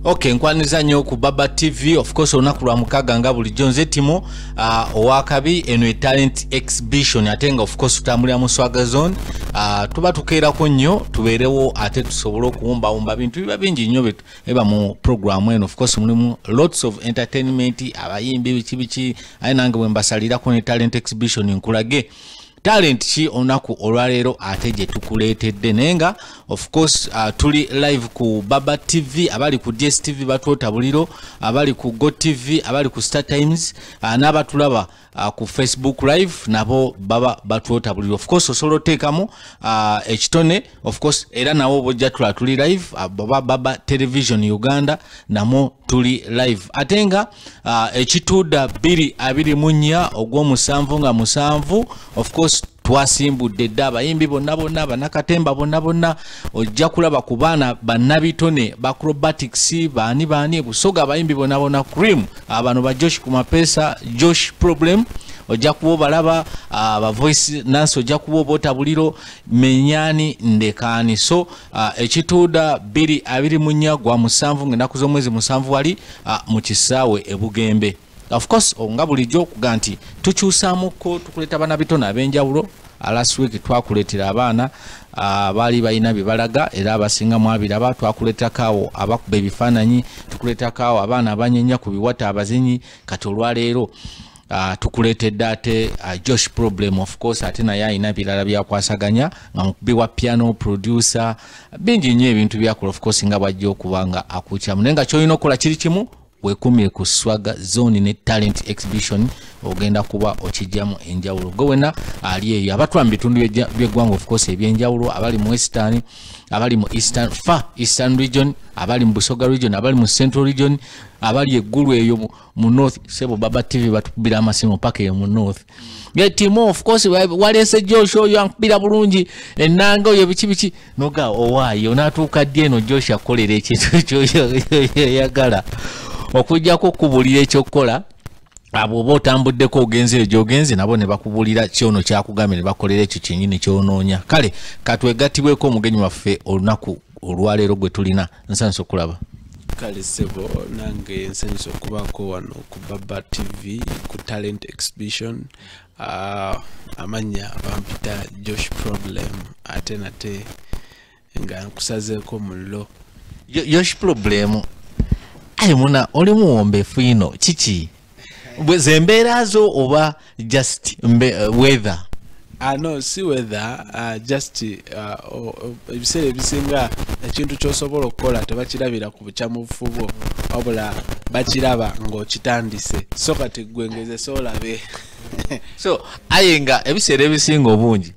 ok nkwaniza nyo ku baba tv of course olunaku lwa mukaga nga bulijjo nze timo uh, owakabi eno etalent exhibition ate nga of course tutambulira mu swaga zone uh, tuba tukeerako nnyo tubeerewo ate tusobole okuwumbawumba bintu biba bingi nnyo eba mu programu eno of course mulimu lots of entertainment abayimbi biki biki aye nange bwe mbasalirako ne talent exhibition nkulage talent ki olunaku olwaleero ate gye tukuleetedde naye nga of course uh, tuli live ku baba tv abali ku dstv batwota buliro abali ku go tv abali ku star times uh, n'abatulaba uh, ku facebook live nabo baba batwota buliro of course osobola oteekamu uh, ekitone of course era nawo bojja tula tuli live uh, baba baba television uganda namwo tuli live ate nga uh, ekituuda bbiri abiri mu nnya ogw'omusanvu nga musanvu of course twasimbudde dda abayimbi bonna bonna banakatemba bonna bonna ojja kulaba ku baana bannabitone bacrobatics baani baani busoga abayimbi bonna bonna cream abano ba josh ku mapeesa josh problem ojja kuba obalaba abavoice nansi ojja kuba obaotabuliro menyani ndekaani so Ah, ekituuda biri abiri mu nnya gwa musanvu ng'ennaku z'omwezi musanvu wali ah, mu kisaawe ebugembe ofcourse oh, nga bulijjo okuga nti tukyusamuko tukuleeta abaana bitone ab'enjawulo ah, last week twakuleetera abaana baali balina bye balaga era abasinga mwabiraba twakuleetakaawo abakuba ebifaananyi tukuleetakaawo abaana abanyenya ku biwata abazinyi kati olwaleero Uh, tukuleetedde ate uh, josh problem of course ate naye alina birala byakwasaganya nga mukubi wa piano producer bingi nnyo ebintu byakola of course nga bwajja okuba nga akuukyamu naye nga kyolina okukola kiri kimu wekumire ku swaga zone ne talent exhibition ogenda kuba okijjamu enjawulo gwe wena ali eyo abatula mu bitundu byeggwanga ofcourse ebyenjawulo abali mu western abali mu eastern fa eastern region abali mu busoga region abali mu central region abali eggulu eyo mu north sebo baba tv batukubira amasimu paka eyo mu north getimo of course waleese josh oyo ankubira bulungi enanga oyo biki biki noga owaayo natuuka ddi eno josh akolera ekintu ekyoyagala okujjako okubulira ekyokukola abo oba otambuddeko ogenzi eyo gyogenze nabo ne bakubulira kyono kyakugambye ne bakolera ekyo kyenyini kyonoonya kale katwegattibweko omugenyi waffe olunaku olwaleero gwe tulina nsanyusa okulaba kale sebo nange nsanyusa okubaako wano ku baba tv ku talent exhibition uh, amannya bampita josh problem ate nate nga nkusazeeko mullo yosh problem ayi muna oli muwombeefu ino kiki zembeera zo oba just uh, weather Uh, no si weather uh, just ah, ebiseera uh, ebisinga ekintu kyosobola okukola tebakirabira ku bukyamufu bwo wabula bakiraba ng'okitandise so kati gwe ngeze soolabe so aye nga ebiseera ebisinga obungi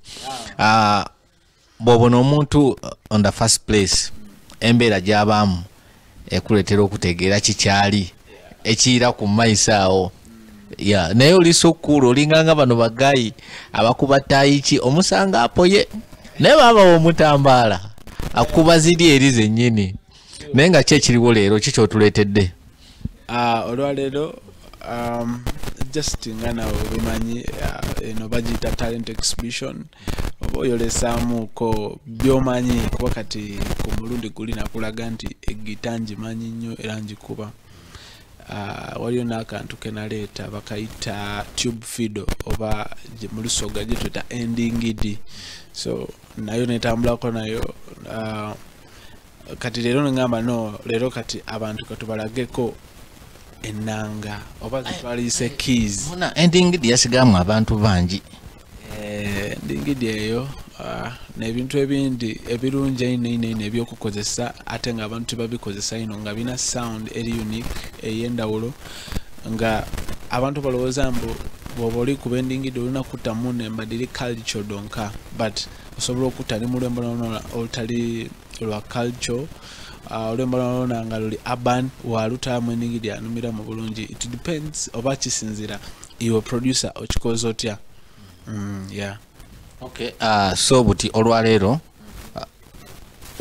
ah. bw'obona omuntu uh, on the first place embeera gy'abaamu ekuleetera okutegeera kikyali ekiyira ku maiso awo ya naye oli sokuulu olinganga bano bagayi abakuba tayiki omusanga apoye naye babawa omutambaala akuba ziri eri zennyini naye nga ki ekiriwo leero ki kyotuleetedde ah, olwaleero um, just nga nawe obimanyi uh, eno bagiyita talent exhibition oba oyolesamuuko byomanyi kuba kati ku mulundi guli nakulaga nti egita ngimanyi nnyo era ngikuba uh, waliyo n'akantu kenaleeta bakayita tube fido oba mu lusoga gyetweta endingidi so nayo netambulako nayo uh, kati leero nengamba no leero kati abantu katubalageko enanga oba zitwaliyise keys muna endingidi yasigamu abantu bangi eh, endingidi eyo ah, nebintu ebindi ebirungi eino ino ino ebyokukozesa ate nga abantu tebabikozesa ino nga bina sound eri unique eyendawulo nga abantu balowooza mbu bwoba oli kuba endingidi olina kutamu nembadiri culture donka but osobola okutta ne mu lwembo lwona olutali lwa culture uh, olwembo lwona nga luli urban walutaamu eningi lyanumira mu bulungi it depends oba kisinzira iwe producer okikoza otya mm, yeah. okay, uh, so buti olwaleero uh,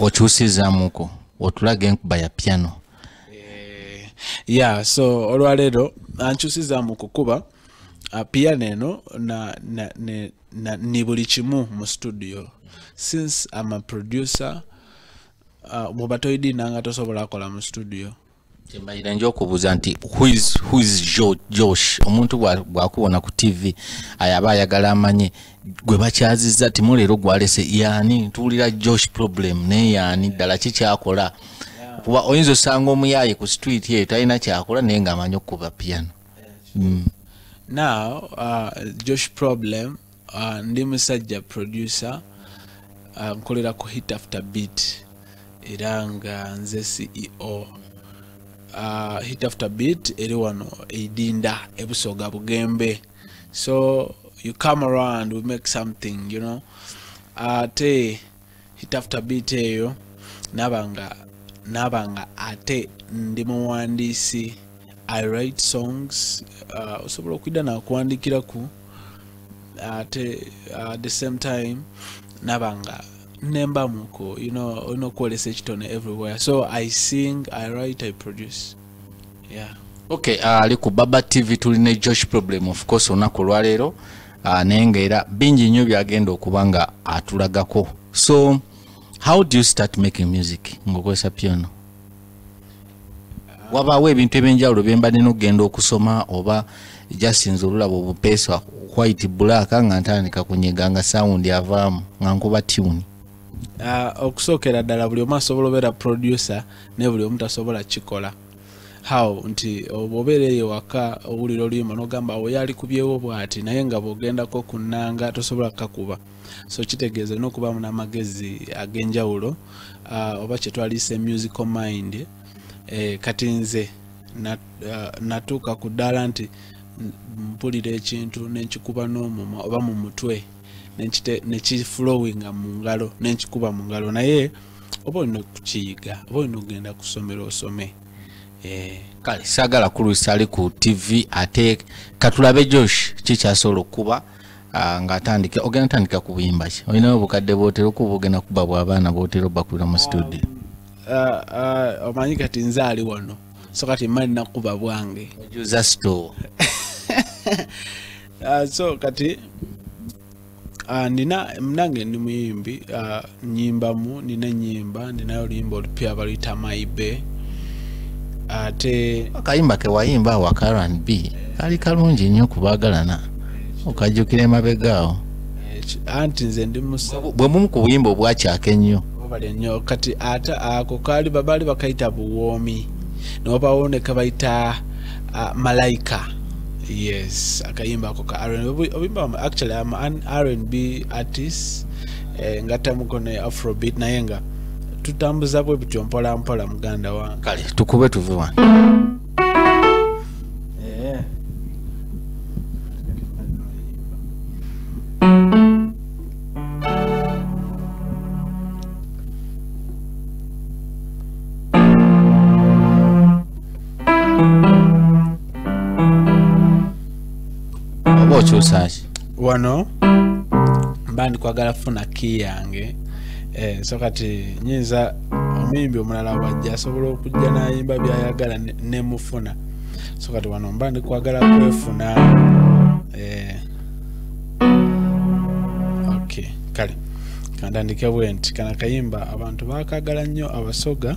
okyusizamuko otulaga enkuba ya piano eh, yeah so olwaleero ankyusizamu kukuba uh, piano eno na, na, ne, na ni buli kimu mu studio since am a producer uh, bwoba toyidina nga tosobola akola mu studio kyembalira nja okubuuza nti whois josh omuntu bwakubona ku tv ayaba ayagala amanye gwe bakyaziza timu leero gwalese yaani tuwulira josh problem naye yaani ddala kikyakola kuba oyinza osanga omuyaaye ku street eyo talina kyakola naye ngaamanyi okukuba piano mm. now uh, josh problem uh, ndi musajja producer uh, nkolera ku hit after beat era nga nze ceo uh, hit after beat eri wano eidinda ebusoga bugembe so you come around we make something you know ate uh, hit after beat eyo nabanga nabanga ate ndi muwandiisi i write songs uh, osobola okuyida nakuwandikiraku ate uh, the same time nabanga nemba muko you know olina okukolesa ekitone everywhere so i sing i write i produce yeah okay uh, ali uh, ku baba tv tuli ne josh problem of course olunaku olwaleero uh, naye nga era bingi nnyo byagenda okuba nga atulagako so how do you start making music ngaokozesa piano wabaawo ebintu ebyenjawulo byembadde nokugenda okusoma oba jasinza olulaba obupeesa white black nga ntandika kunyega nga sawundi avaamu nga nkuba tuni uh, ah, okusookera ddala buli omu asobola obeera producer naye buli omu tasobola kikola how nti obeera eyo waka owulira oluyimba nogamba awo yali kubyewo bwati naye nga bwogendako ku nnanga tosobola kukakuba so kitegeeza olina okubaamu n'amagezi ag'enjawulo uh, oba kyetwaliyisa emusical mind eh, kati nze uh, natuuka ku ddaala nti mpulira ekintu nenkikuba n'omumwa oba mu mutwe nekiflowinga mu ngalo nenkikuba mu ngalo naye oba olina okukiyiga oba olina okugenda kusomero osome eh. kale sagala kulwisa ali ku tv ate katulabe josh kikyasobola okukuba ah, ngaatandika ogenda tandika kubuyimba ki olinawo obukadde bwotera okuba ogenda kuba bwabaana bwotera obakubira mu studio ah, ah, omanyi kati nze ali wano so kati mali nakuba bwange ojuza store so kati Ah, nina nange ndi muyimbi ah, nyimbamu nina enyimba ninayo oluyimba olupya baluyita maibe ate akayimba kewayimba awa karan b kali kalungi nnyo kubagalana okajjukira emabegaawo anti nze ndi bwe bumu ku buyimba obwakyaka ennyo obale nnyo kati ate ako kaali babaali bakayita buwoomi nobawo ne kabayita uh, malaika yes akayimba ako ka rnbimba actually am an rnb artist eh, ngatamuko ne afrobeat naye nga tutambuza bwe bityo mpola mpola muganda wa kale tukube tuve wano eh. oba okyusaki wano mba ndikwagala funa ki yange eh, so kati nyinza omuyimbi omulala wajja asobola okujja nayimba byayagala nemufuna so kati wano mba ndikwagala kwefuna eh, okay kale kandandike bwenti kana kayimba abantu bakagala nnyo abasoga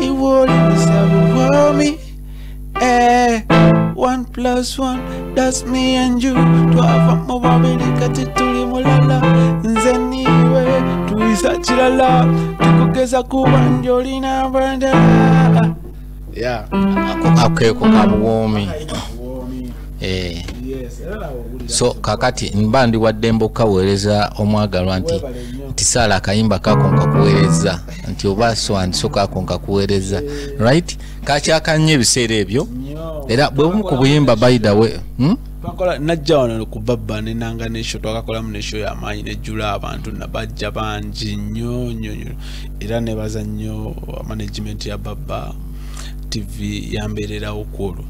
It wouldn't be seven for me. Eh, one plus one, that's me and you. Twava mu babiri kati tuli mulala. Nze niwe tuyisa kirala. Tukugeza kuba njolina abanda. Yeah. Akeko kabuwomi. Eh. So kakati mba ndi waddembe okukaweereza omwagalwa nti nti saala akayimba kako nkakuweereza. nti oba aswandisoka ako nkakuweereza right kakyakannyo ebiseera ebyo era bwe bumu ku buyimba baidawe hmm? twakola najja wano kuva bba nenanga nesho twakakolamu nesho yamaanyi nejjula abantu nabajja bangi nnyo nyo nyo era nebaza nnyo management ya babba tv yambeererawo kwolwo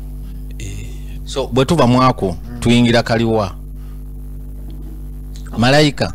eh. so bwe tuva mwako tuyingira kaliwa malayika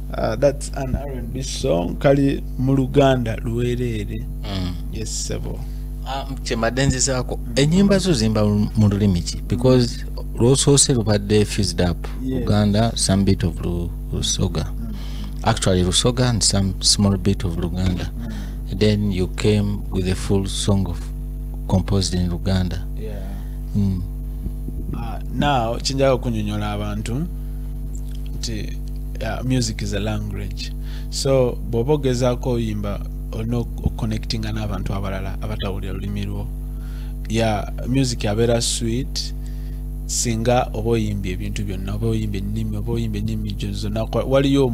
Uh, that's an R&B song kali mu Luganda luwereere mm. yes sebo ah, kyembadde nzizaako ennyimba zo zimba mu lulimi ki because lwosoose lubadde fused up uganda some bit of lusoga mm. actually lusoga and some small bit of luganda mm. then you came with a full song of composed in luganda yeah. mm. uh, now kinjaga okunyonyola abantu nti uh, music is a language so bwoba ogezaako oyimba olina okuconnectinga n'abantu abalala abatawulira lulimi lwo ya music abeera sweet singa oba oyimbye ebintu byonna oba oyimbye ennimi oba oyimbye ennimi gyo zonna waliyo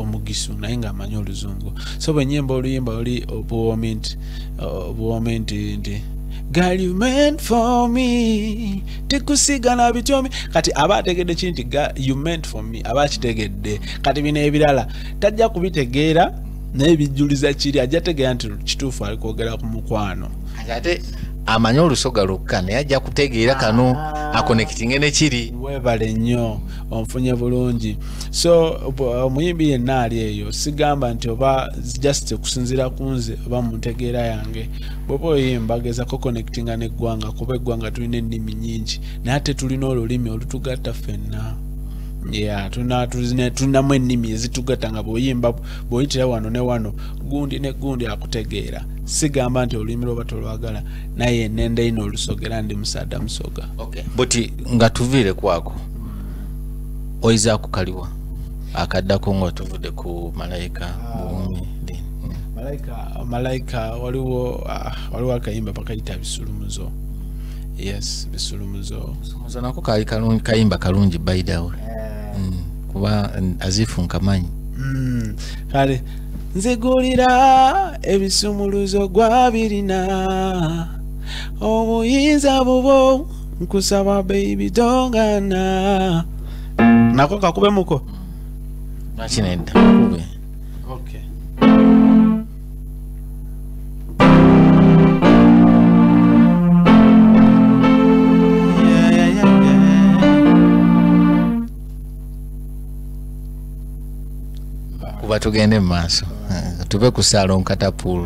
omugisu naye nga amanyi oluzungu so bwenyimba oluyimba oli obuwoomi nti obuwoomi nti nti Girl, you meant for me. tekusigala bityomi kati aba ategedde ki nti you meant for me aba akitegedde kati bino ebirala tajja kubitegeera naye bijjuliza kiri ajja tegeera nti kituufu ali kwogera ku mukwano ate amanyi olusoga lwokka naye ajja kutegeera kano ah. akonekitinge nekiri webale nnyo onfunye bulungi so omuyimbi yenna ali eyo sigamba nti oba just okusinziira ku nze oba mu ntegeera yange bwoba oyimba gezako connectinga neggwanga kuba eggwanga tulina ennimi nyingi naye ate tulina olulimi olutugatta fenna ya tulinamu ennimi ezitugatta nga bwoyimba bwoyitira wano ne wano gundi ne gundi akutegeera sigamba nti olulimi lwoba tolwagala naye nenda ino olusogera ndi musaada musoga buti nga tuviire kwako oyinza kukaliwa akaddako ngaotuvude ku malayika buumi malayika waliwo ah, waliwo akayimba bakayita bisulumuzo yes bisulumuzo nako kali kalungi kayimba kalungi baidawe eh. mm, kuba azifu nkamanyi mm, kale nzigulira ebisumuluzo gwabirina obuyinza bubo nkusaba baby dongana nako kakube muko nakinedda kakube okay kuba tugende mu maaso tuve ku saalon katapul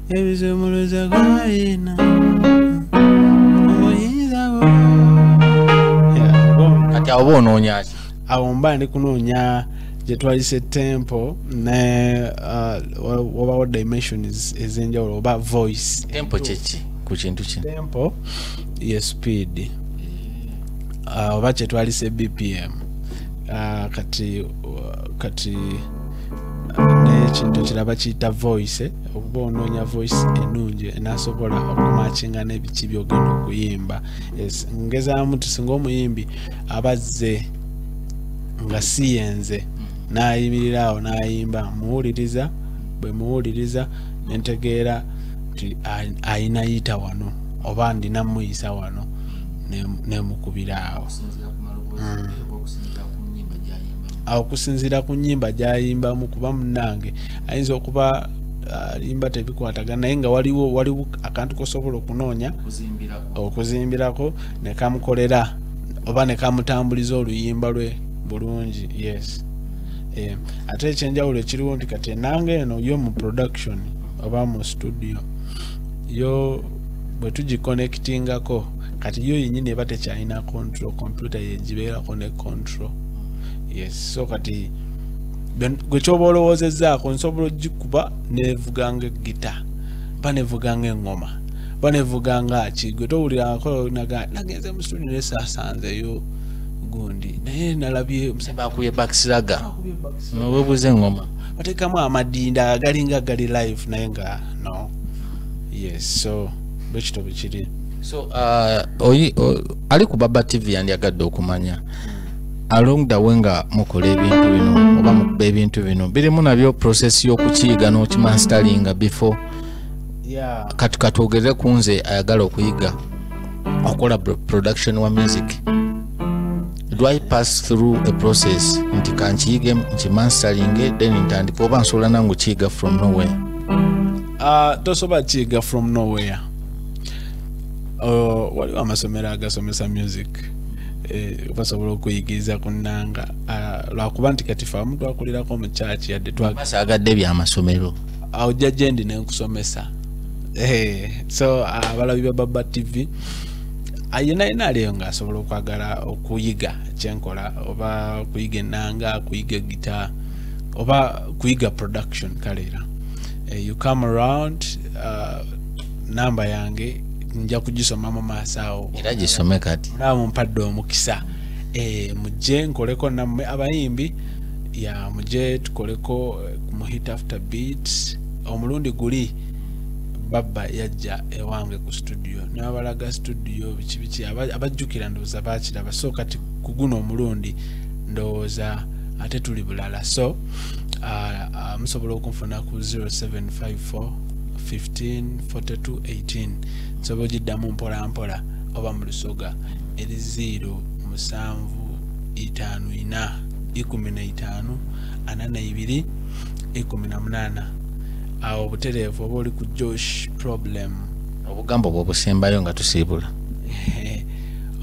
ebisumuluzo gwayina obuyinza bwo kati awo ba onoonyaki awo mba ndi kunoonya gye twalise tempo ne uh, wabawo dimensions ez'enjawulo oba voice tempo kyeki ku kintu kino tempo ye speed uh, oba kyetwalise bpm uh, kati uh, kati nekintu kiraba kiyita voice eh? okuba onoonya voice enungi enasobola okumakinga nebiki byogenda okuyimba ngezamu ti singa omuyimbi abazze nga siyenze nayimirira awo nayimba muwuliriza bwe muwuliriza nentegeera ti ayina yita wano oba ndina muyisa wano nemukubira awo awo kusinziira ku nyimba gyayimbamu kuba munange ayinza okuba alimba uh, tebikwatagana naye nga waliwo waliwo akantu kosobola okunoonya okuzimbirako nekamukolera oba nekamutambuliza oluyimba lwe bulungi yes eh, ate ekyenjawulo ekiriwo nti kati enanga eno yo mu production oba mu studio yo bwe tugikonectingako kati yo yenyini eba tekyalina control computer yegibeerako ne control yes so kati gwe kyoba olowoozezaako nsobola ogikuba nevuganga egita ba nevuganga eŋŋoma ba nevuganga ki gwe towulirako nagenze mu studio naye saasanzeyo gundi naye nalabye bakuye bakisiraga nowebuuza eŋŋoma batekamu amadinda agalinga gali live naye nga no yes so bwekito bwekiri so uh, ali ku baba tv yandyagadde okumanya mm. along the way nga mukola ebintu bino oba mukuba ebintu bino birimu nabyo process y'okukiyiga n'okimanstalinga before yeah. kati katwogerere ku nze ayagala okuyiga okukola production wa music do i pass through a process nti kankiyige nkimanstalinge then ntandika oba nsobola nangu kiyiga from nowhere uh, tosobola kiyiga from nowhere uh, waliwo amasomero agasomesa music Eh, basobola okuyigiriza ku nnanga ah, lwakuba nti kati fe abamu twakulirako mu kyaki yadde twasaagadde ebyamasomero awo jja gyendi nenkusomesa eh, so ah, abalabi ba baba tv ayina ah, yina aliyo nga asobola okwagala okuyiga kyenkola oba kuyiga ennanga kuyiga egita oba kuyiga production kaleera eh, you come around uh, namba yange nja kugisoma mu maaso awo era gisome kati naba mumpadde omukisa eh, mujje nkoleko nammwe abayimbi ya mujje tukoleko eh, mu hit after beat omulundi guli babba yajja ewange ku studio nabalaga studio biki biki abajjukira ndowooza bakiraba so kati ku guno omulundi ndowooza ate tuli bulala so ah, ah, musobola okunfuna ku 0754 154218 nsobola ogiddamu mpola mpola oba mu lusoga eri 0 musanvu itaano ina ikumi na itaano ana na ibiri ikumi na munaana awo obutereevu oba oli ku josh problem obugambo bwobusembayo nga tusiibula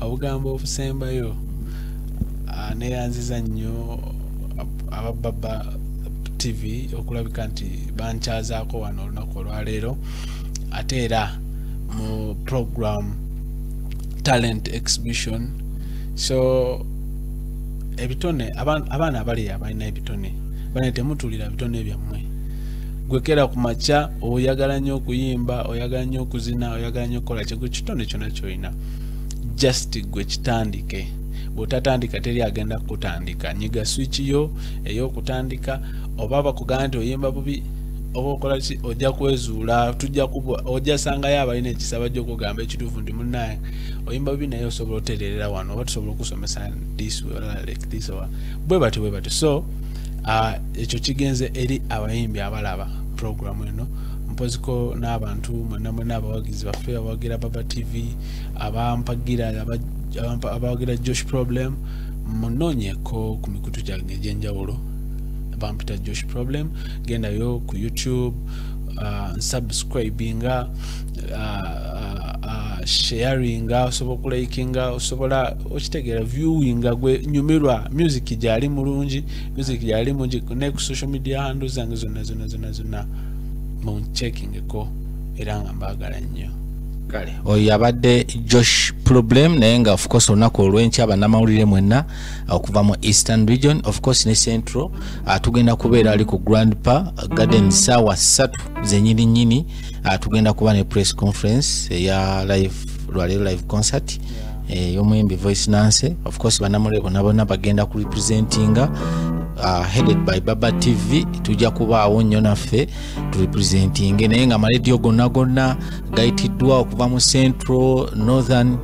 obugambo obusembayo ah, neyanziza nnyo abababa tv okulabika nti bankyazaako wano olunaku olwaleero ate era mu program talent exhibition so ebitone abaana abali abalina ebitone bane temutulira bitone byammwe gwekera ku makya oyagala nnyo okuyimba oyagala nnyo okuzina oyagala nnyo okukola kyegwe kitone kyona kyolina just gwe kitandike bwotatandika teri agenda kukutandika nyiga switch yo eyokutandika oba bakugamba nti oyimba bubi oba okola ki ojja kwezuula tujja kubwa ojja sangayo abalina ekisaba gyokugamba ekituufu ndi munaye oyimba bubi naye osobola otereerera wano oba tusobola okusomesa this like this or bwe bati bwe bati so uh, ekyo kigenze eri abayimbi abalaba programu eno mpoziko n'abantu mwena mwena abawagizi baffe abawagira baba tv abampagira abawagira josh problem munonyeko ku mikutu gyange egyenjawulo bampita josh problem gendayo ku youtube uh, nsubscribinga uh, uh, sharinga osobola okulikinga osobola okitegeera viewinga gwe nyumirwa music gyali mulungi music gyali mungi ne ku social media handu zange zonna zonna zonna zonna munchekingeko era nga mbaagala nnyo kale oyo yabadde josh problem naye nga ofcourse olunaku olwenkya banamawulire mwenna uh, okuva mu eastern region ofcourse ne central uh, tugenda kubeera ali ku grand pa garden saawa ssatu zenyini nyini uh, tugenda kuba ne press conference eya live lwaleero live concert eh, yomuyimbi voice nancy ofcourse banamawulire bona bona bagenda ku representinga headed by baba tv tujja kubaawo nnyo naffe turepresentinge naye nga amalediyo gonna gonna gayitiddwa okuva mu central northern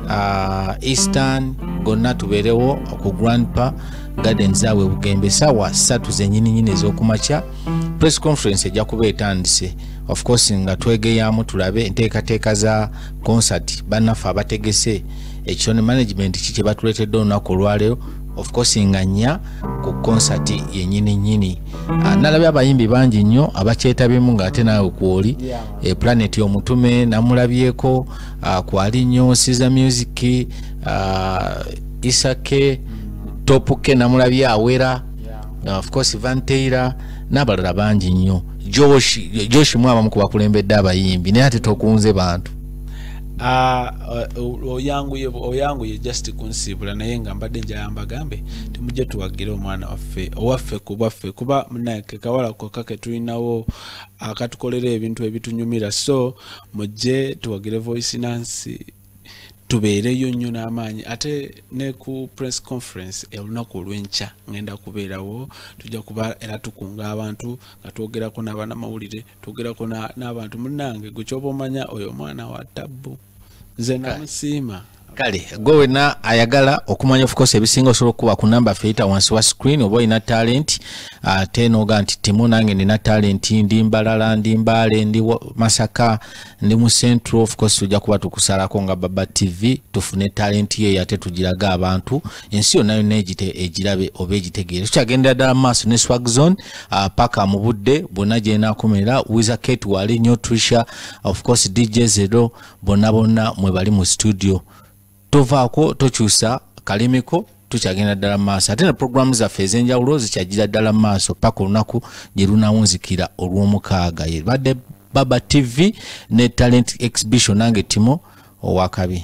uh, eastern gonna tubeerewo ku grandpa garden zaabwe bugembe saawa satu zenyininyini ez'okumakya press conference ejja kuba etandise of course nga twegeyamu tulabe enteekateeka za concert bannaffe abategese ekitone management ki kye batuleetedde olunaku olwaleero of course nga nnya ku concert yenyini nyini ah, nalabye abayimbi bangi nnyo abakyetabyemu nga ate naawe kwoli yeah. e, planet omutume namulabyeko ah, kwali nnyo siza music ah, isake topuke namulabye awera yeah. of course vanteira n'abalala bangi nnyo joshi joshi mwabamu kubakulembedde abayimbi naye ate tokunze bantu Ah, uh, oyanguye oyanguye just kunsiibula naye nga mbadde njala mbagambe timujje tuwagire omwana waffe owaffe kubaffe kuba munaye kekawala koka ketulinawo akatukolera ebintu ebitunyumira so mujje tuwagire voice nansi tubeereyo nnyo n'amaanyi ate ne ku press conference olunaku olwenkya ngenda kubeerawo tujja kuba era tukunga abantu nga twogerako n'abanamawulire tugerako n'abantu munange gwe kyoba omanya oyo omwana wa tabbu nze namusiima kale gwe wena ayagala okumanya ofcourse ebisinga osobola okukuba ku namba feita wansi wa screen oba olina talent ate ah, noga nti timu nange nina talent ndi mbalala ndi mbaale ndi masaka ndi mu central ofcourse tujja kuba tukusalako nga baba tv tufune talent yeyo ate tugiraga abantu ensi yonna yonna egirabe oba egitegeere tukyagendera ddala maaso ne swag zone uh, paka mu budde bonna gyenakomerera wiza kate wali nyo trisha of course dj zero bonna bonna mwe bali mu studio tovaako tokyusa kalimiko tukyagenda ddala mu maaso ate ne puroguramu zaffe ez'enjawulo zikyagira ddala mu maaso paka olunaku gye lunawunzikira olw'omukaaga yebadde baba tv ne talent exhibition nange timo owakabi